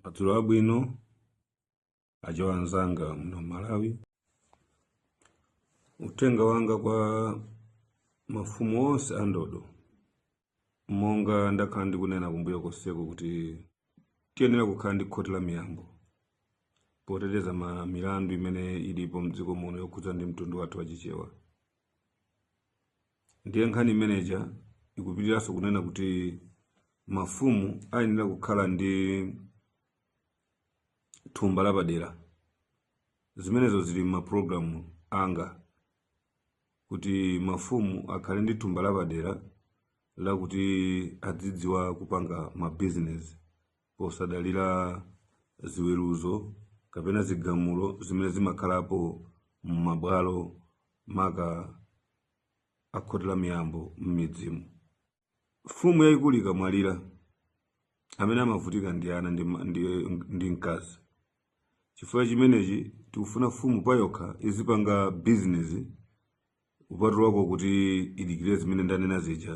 Madzulo abwino achewa anzanga muno Malawi. Uthenga wanga kwa mafumu onse a ndodo monga ndakhala ndikunena kumbuyo konseko kuti tiyenera kukhala ndi khoti la miyambo poteteza ma milandu imene ilipo mdziko muno yokhudza ndi mtundu wathu wa chichewa ndiye nkhani imeneja ikupitiranso kunena kuti mafumu ayenera kukhala ndi thumba lapadera zimenezo zili m'mapulogalamu anga kuti mafumu akhale ndi thumba lapadera lakuti adzidziwa kupanga mabizinesi posadalira ziweruzo kapena zigamulo zimene zimakhalapo m'mabwalo maka a khoti la miyambo m'midzimu Mfumu yayikulu ikamwalira, amene amavutika ndi ana ndi, ndi, ndi mkazi. Chifukwa chimenechi tikufuna mfumu payokha izipanga bizinesi kupatulako kuti idikire zimene ndanena zija,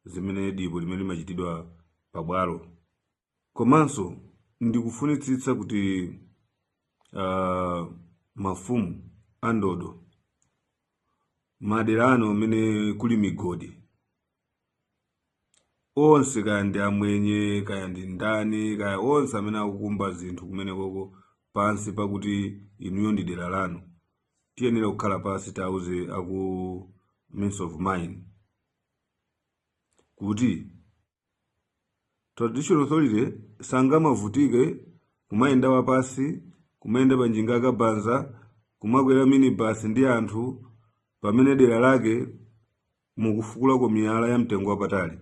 zimene dipo limene limachitidwa pabwalo. Komanso ndikufunitsitsa kuti uh, mafumu a ndodo madera anu amene kuli migodi onse kaya ndi amwenye kaya ndi ndani kaya onse amene akukumba zinthu kumene koko pansi pakuti inuyo ndi dera lanu tiyenera kukhala pansi tauze a ku ministry of mines kuti traditional authority sangamavutike kumayenda wapansi kumayenda pa njinga za kabaza kumakwera minibus ndi anthu pamene dera lake mukufukulako miyala ya mtengo wapatali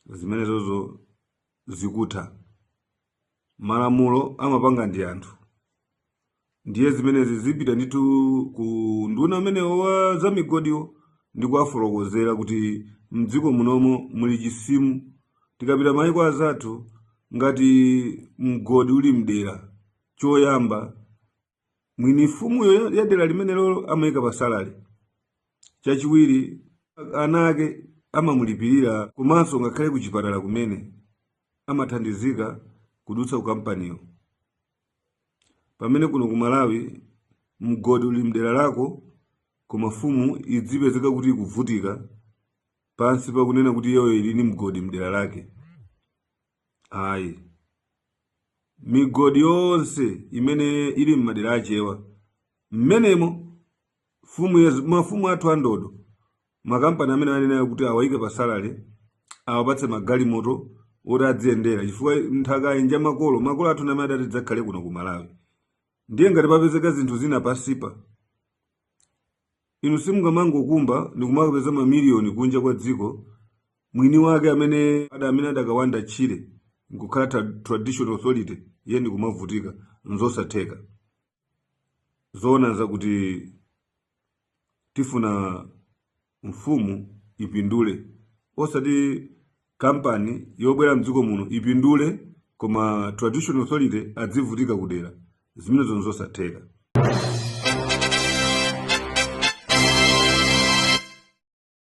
zimenezozo zikutha Malamulo amapanga ndi anthu, ndiye zimenezi zipita ndithu ku unduna umenewo wa za migodiwo ndi kuwafotokozera kuti mdziko munomo muli chisimu. Tikapita maiko anzathu ngati mgodi uli mdera, choyamba mwini mfumuyo ya dera limenelo amayika pa salary chachiwiri ana ake amamulipirira komanso ngakhale ku chipatala kumene amathandizika kudutsa ku kampaniyo pamene kuno ku malawi mgodi uli mdera lako koma mfumu idzipezeka kuti ikuvutika pansi pakunena kuti iyoyo ili ndi mgodi mdera lake ayi migodi yonse imene ili m'madera achewa mmenemo mfumu yathu mafumu athu andodo makampani amene akunenayo kuti awaike pa salary awapatse magalimoto oti adziyendera chifukwa nthakayi nja makolo makolo athu ndi amene adati tidzakhale kuno ku malawi ndiye ngati papezeka zinthu zina pansipa Inu simungamangokumba ndikumakapeza mamiliyoni kunja kwa dziko, mwini wake amene ada amene adakawanda tchire nkukhala tra traditional authority iye ndikumavutika. Nzosatheka. Zoona nzakuti tifuna mfumu ipindule osati kampani yobwera mdziko muno ipindule koma traditional authority adzivutika kudera zimenezo nzosatheka